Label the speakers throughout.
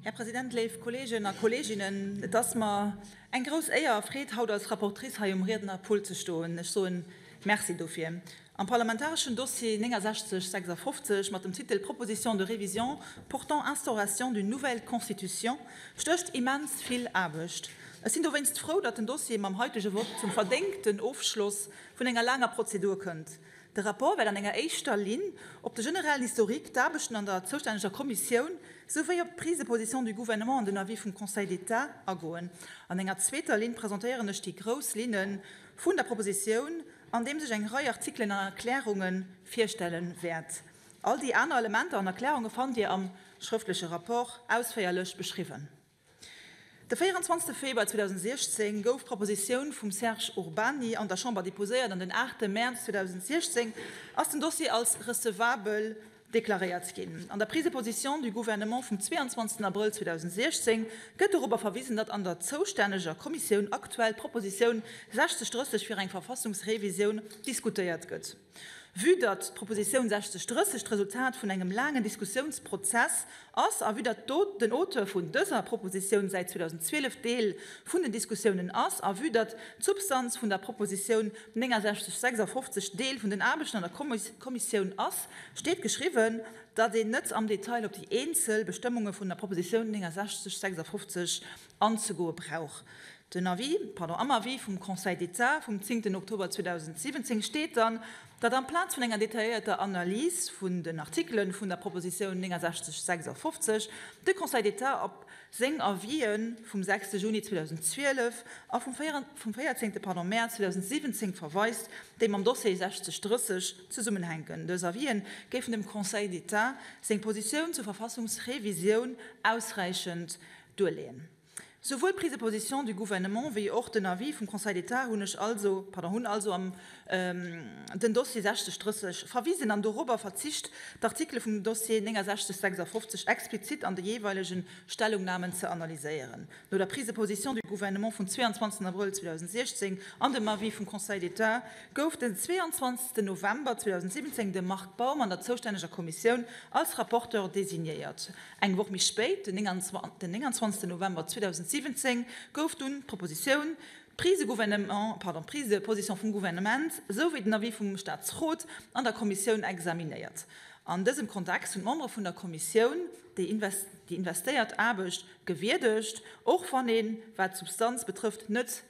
Speaker 1: Här President, léif Kolleegen a Kolleeginnen, et ass mer eng grouss Éier a Freed, haut als Rapportrice hei um Riednerpult ze stoen. Ech soen Merci dofir. Am parlamentareschen Dossier 6956 mat dem Titel Proposition de révision portant instauration d'une nouvelle Constitution stécht immens vill Aarbecht. Ech sinn dowéinst frou, datt den Dossier mam heitege Vott zum verdéngten Ofschloss vun enger laanger Prozedur kënnt. De Rapport wäert an enger éischter Linn op de generellen Historique, d'Aarbechten an der zoustänneger Kommissioun souwéi op d'Prise de position du Gouvernement an den Avis vum Conseil d'État agoen. An enger zweeter Linn presentéieren ech déi grouss Linne vun der Propositioun, andeems ech eng Rei Artikelen an Erklärunge virstelle wäert. All déi aner Elementer an Erklärunge fannt Dir am schrëftleche Rapport ausféierlech beschriwwen. De 24 Februar 2016 gouf d'Propositioun vum Serge Urbany an der Chamber deposéiert an den 8 Mäerz 2016 ass den Dossier als recevabel deklaréiert ginn. An der Prise de position du Gouvernement vum 22 Abrëll 2016 gëtt dorobber verwisen, datt an der zoustänneger Kommissioun aktuell d'Propositioun 6030 fir eng Verfassungsrevisioun diskutéiert gëtt. Vue datt d'Propositioun 60, 30 d'Resultat vun engem laangen Diskussiounsprozess ass a vue datt den Auteur vun dëser Propositioun säit 2012 Deel vun den Diskussiounen ass a vue datt d'Substanz vun der Propositioun 69, 56 Deel vun den Aarbechten an der Kommissioun ass, steet geschriwwen, datt een net am Detail op déi eenzel Bestëmmunge vun der Propositioun 69, 56 anzegoe brauch. Den Avis, pardon, am Avis vum Conseil d'État vum zéngten Oktober 2017 steet dann, datt amplaz vun enger detailléierter Analys vun den Artikelen vun der Proposition 6956 de Conseil d'État op seng Avis'en vum sechste Juni 2012 a vum véierzéngte, pardon, Mäerz 2017 verweist, déi mam Dossier 6030 zesummenhänken. Dës Avis'en géifen dem Conseil d'État seng Position zur Verfassungsrevisioun ausräichend Duerleeën. Souwuel d'Prise de position du Gouvernement wéi och den Avis vum Conseil d'État hunn ech also, pardon, hunn also am den Dossier 60 30 verwisen an dorobber verzicht, d'Artikele vum Dossier 69 56 explizit an de jeeweilege Stellungnamen ze analyséieren. No der Prise de position du Gouvernement vum 22 Avril 2016 an dem Avis vum Conseil d'État gouf den 22 November 2017 de Marc Baum an der zoustänneger Kommissioun als Rapporteur designéiert. Eng Woch méi spéit, den 29 November 2017, gouf dunn d'Propositioun, d'Prise de position vum Gouvernement souwéi den Avis vum Staatsrot an der Kommissioun examinéiert. An dësem Kontext hunn d'Membere vun der Kommissioun déi investéiert Aarbecht gewierdegt, och wann een, wat d'Substanz betrëfft, net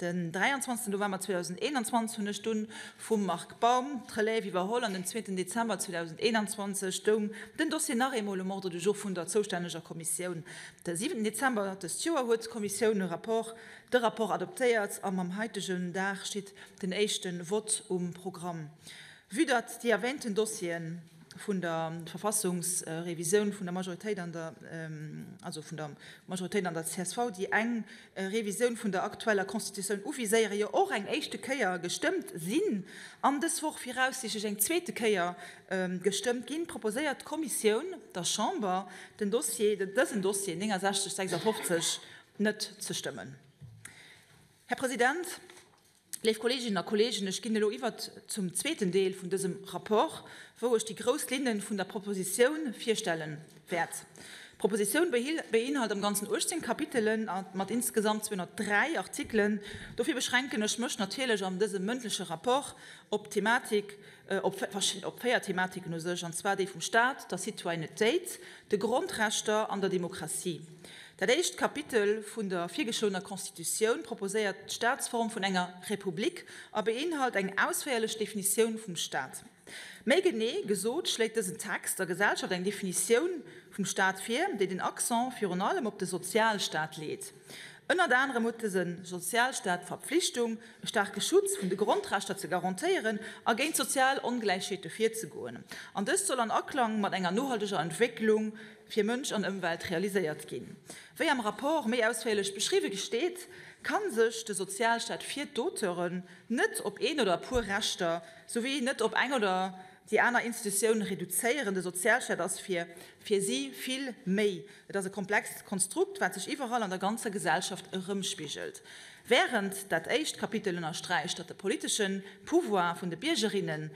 Speaker 1: Den 23 November 2021 hunn ech dunn vum Marc Baum d'Relève iwwerholl an den zweeten Dezember 2021 stoung den Dossier nach eemol um Ordre du jour vun der zoustänneger Kommissioun. De siwenten Dezember dëst Joer huet d'Kommissioun e Rapport, de Rapport adoptéiert a mam haitegen Dag steet den éischte Vott um Programm. Vue datt déi erwähnten Dossieren vun der Verfassungsrevisioun vun der Majoritéit an der, also vun der Majoritéit an der csv, déi eng, Revisioun vun der aktueller Constitutioun uviséiere jo och eng éischte Kéier gestëmmt sinn an dës Woch viraussiichtlech eng zweete Kéier gestëmmt ginn, proposéiert d'Kommissioun der Chamber, den Dossier, dësen Dossier 6956 net ze stëmmen. Här President, Léif Kolleeginnen a Kolleegen, ech ginn elo iwwer zum zweeten Deel vun dësem Rapport, wou ech déi grouss Linne vun der Proposition virstelle wäert. D'Proposition beinhalt am Ganzen 18 Kapitelen mat insgesamt 203 Artikelen. Dofir beschränken ech mech natierlech an dësem mëndleche Rapport op d'Thematik, op véier Thematiken u sech, an zwar déi vum Stat, der Citoyennetéit, de Grondrechter an der Demokratie. Dat éischt Kapitel vun der virgeschloener Constitutioun proposéiert d'Staatsform vun enger Republik a beinhalt eng ausféierlech Definitioun vum Staat. Méi genee gesot schléit dësen Text der Gesellschaft eng Definitioun vum Staat vir, déi den Accent virun allem op de Sozialstaat leet. Ënnert anerem huet dëse Sozialstaat d'Verpflichtung, e staarke Schutz vun de Grondrechter ze garantéieren a géint sozial Ongläichheete virzegoen. An dëst soll an Aklang mat enger nohalteger Entwécklung fir Mënsch an Ëmwelt realiséiert ginn. Wéi am Rapport méi ausféierlech beschriwwe gesteet, ka sech de Sozialstaat fir d'Auteuren net op een oder e puer Rechter souwéi net op eng oder déi aner Institutioun reduzéieren. De Sozialstaat ass fir fir si vill méi. Et ass e komplext Konstrukt, wat sech iwwerall an der ganzer Gesellschaft erëmspigelt. Wärend dat éischt Kapitel ënnersträicht, datt de politesche Pouvoir vun de Biergerinnen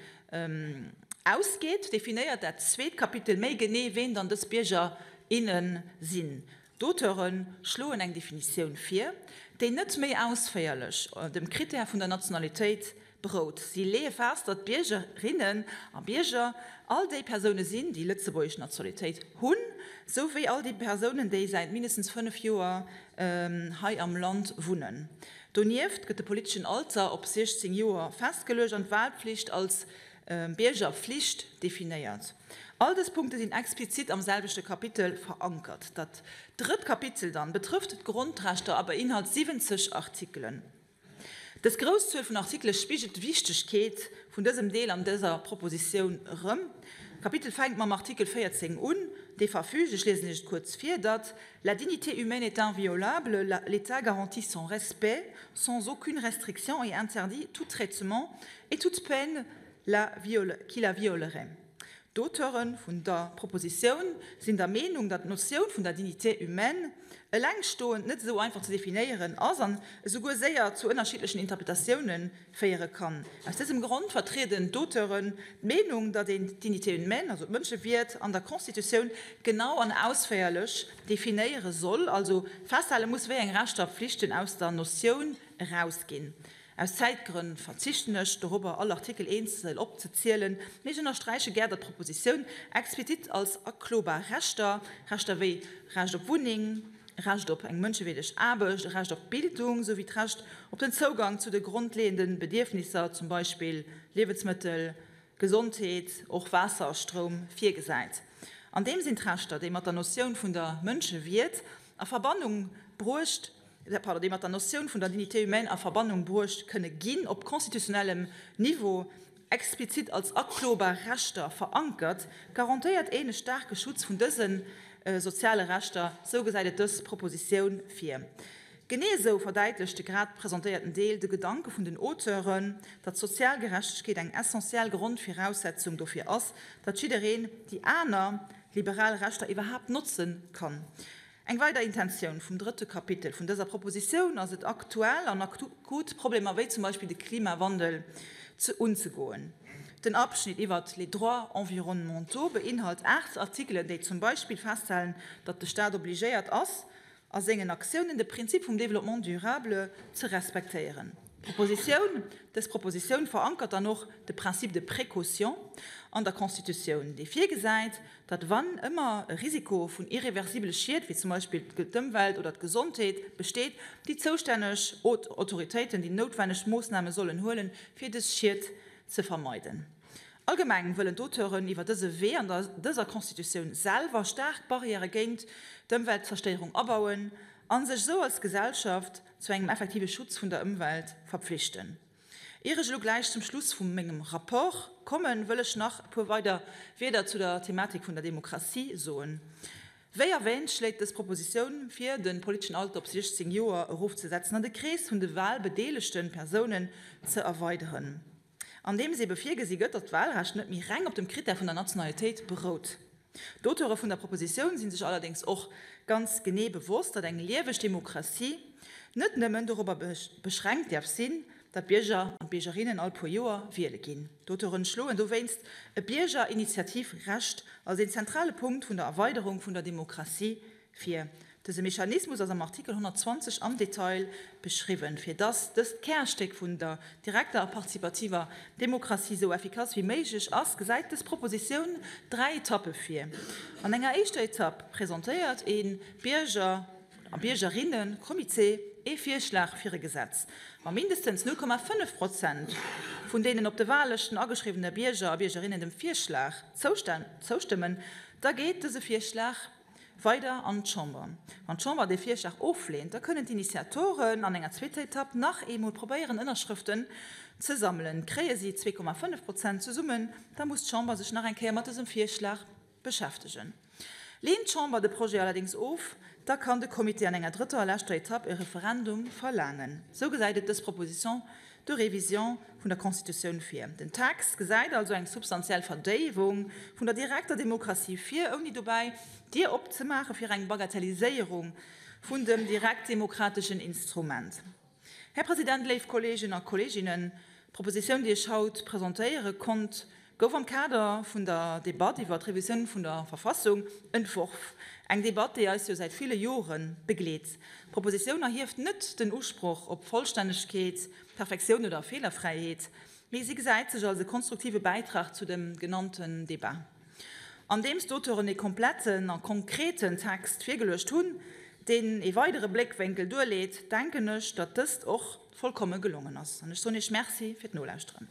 Speaker 1: Ausgeet, definéiert dat zweet Kapitel méi genee, ween dann dës Bierger, innen sinn. D'Auteure schloen eng Definitioun vir, déi net méi ausféierlech dem Critère vun der Nationalitéit berout. Si leeë fest, datt Biergerinnen a Bierger all déi Persoune sinn, déi lëtzebuergesch Nationalitéit hunn, sou wéi all déi Persounen, déi säit mindestens fënnef Joer hei am Land wunnen. Donieft gëtt de politeschen Alter op 16 Joer festgeluecht an d'Walpflicht als Biergerflicht definéiert. All dës Punkte sinn explizit am selwechte Kapitel verankert. Dat drëtt Kapitel dann betrëfft d'Grondrechter a beinhalt 70 Artikelen. Dës grouss Zuel vun Artikele spigelt d'Wichtegkeet vun dësem Deel an dëser Propositioun erëm. D'Kapitel fänkt mam Artikel 14 un, dee verfügt, ech liesen Iech et kuerz vir, datt, La dignité humaine est inviolable, l'État garantit son respect sans aucune restriction et interdit tout traitement et toute peine la qui la violerait. D'Auteure vun der Propositioun sinn der Meenung, datt d'Notioun vun der dignité humaine elengstoend net esou einfach ze definéieren ass an esouguer séier zu ënnerschiddlechen Interpretatiounen féiere kann. Aus dësem Grond vertrieden d'Auteuren d'Meenung, datt een d'Dignité humaine, also d'Mënschewierd, an der Constitutioun genau an ausféierlech definéiere soll, also festhale muss, wéi eng Rechter a Pflichten aus der Notioun erausginn. Aus Zäitgrënn verzichten ech dorobber, all Artikel eenzel opzezielen, mee ech ënnersträiche gär, datt d'Propositioun explizit als aklobar Rechter, Rechter wéi Recht op Wunneng, Recht op eng mënschewierdeg Aarbecht, e Recht op Bildung, souwéi d'Recht op den Zougang zu de grondleeënde Bedierfnisser, zum Beispill Liewensmëttel, Gesondheet, och Waasser a Stroum, virgesäit. An deem sinn d'Rechter, déi mat der Notioun vun der Mënschewierd a Verbannung bruecht, pardon, déi mat der Notioun vun der Dignité humaine a Verbannung bruecht kënne ginn, op constitutionnellem Niveau, explizit als aklobar Rechter verankert, garantéiert een e staarke Schutz vun dëse soziale Rechter, sou gesäit et dës Propositioun vir. Genee esou verdäitlecht de grad presentéierten Deel de Gedanke vun den Auteuren, datt sozial Gerechtegkeet eng essentiell Grondviraussetzung dofir ass, datt jiddereen déi aner liberal Rechter iwwerhaapt notze kann. Eng weider Intentioun vum drëtte Kapitel vun dëser Propositioun ass et, aktuell an akut Problemer wéi zum Beispill de Klimawandel unzegoen. Den Abschnitt iwwert les droits environnementaux beinhalt aacht Artikelen, déi zum Beispill festhalen, datt de Staat obligéiert ass, a sengen Aktiounen de Prinzip vum Développement durable ze respektéieren. Dës Propositioun verankert dann och de Principe de précaution an der Constitutioun, dee virgesäit, datt wann ëmmer e Risiko vun irreversibele Schied, wéi zum Beispill d'Ëmwelt oder d'Gesondheet, besteet, déi zoustänneg Autoritéiten déi noutwenneg Moossname sollen huelen, fir dës Schied ze vermeiden. Allgemeng wëllen d'Auteuren iwwer dëse Wee an dëser Constitutioun selwer staark Barrièrë géint d'Ëmweltzerstéierung abauen a sech esou als Gesellschaft zu engem effektive Schutz vun der Ëmwelt verpflichten. Ier ech elo gläich zum Schluss vu mengem Rapport kommen, wëll ech nach e puer weider Wieder zu der Thematik vun der Demokratie soen. Wéi erwäänt, schléit dës Propositioun vir, de politeschen Alter op 16 Joer erofzesetzen an de Krees vun de wahlbedeelegte Persounen ze erweideren, andeems eebe virgesi gëtt, datt d'Wahlrecht net méi reng op dem Krittär vun der Nationalitéit berout. D'Auteure vun der Propositioun si sech allerdéngs och ganz genee bewosst, datt eng lieweg Demokratie net nëmmen dorobber beschränkt däerf sinn, datt d'Bierger an d'Biergerinnen all puer Joer wiele ginn. D'Auteure schloen dowéinst e Biergerinitiativ-Recht als een zentrale Punkt vun der Erweiderung vun der Demokratie Fir. Dëse Mechanismus ass am Artikel 120 am Detail beschriwwen. Fir dass dëst Kärstéck vun der direkter a participativer Demokratie sou effikass wéi méiglech ass, gesäit dës Propositioun dräi Etappe vir. An enger éischter Etapp presentéiert ee Bierger a Biergerinne-Comité ee Virschlag fir e Gesetz, wa mindestens 0,5 Prozent vun deenen op de Wahllëschten ageschriwwene Bierger a Biergerinne dem Virschlag zoustëmmen, da geet dëse Virschlag Weider an d'Chamber. Wann d'Chamber dee Virschlag ofleent, da kënnen d'Initiatoren an enger zweeter Etapp nach eemol probéieren, Ënnerschrëften ze sammelen. Kréie si 2,5 Prozent zesummen, da muss d'Chamber sech nach eng Kéier mat dësem Virschlag beschäftegen. Leent d'Chamber de Projet allerdéngs of, da kann de Comité an enger drëtter a leschter Etapp e Referendum verlaangen. Esou gesäit et dës Proposition de Révision vun der Constitutioun vir. Den Text gesäit also eng substantiell Verdéiwung vun der direkter Demokratie vir, ouni dobäi d'Dier opzemaache fir eng Bagatelliséierung vun dem direktdemokrateschen Instrument. Här President, léif Kolleegen a Kolleeginnen, d'Propositioun, déi ech haut presentéiere konnt, gouf am Kader vun der Debatt iwwer d'Revisioun vun der Verfassung entworf. Eng Debatt, déi eis jo säit ville Jore begleet. D'Propositioun erhieft net den Usproch op Vollstännegkeet, Perfektioun oder Feelerfräiheet, mee si gesäit sech als e konstruktive Bäitrag zu dem genannten Debat. Andeems d'Auteuren e kompletten a konkreten Text virgeluecht hunn, deen e weidere Bléckwénkel duerleet, denken ech, datt dëst och vollkomme gelongen ass. An ech soen Iech Merci fir d'Nolauschteren.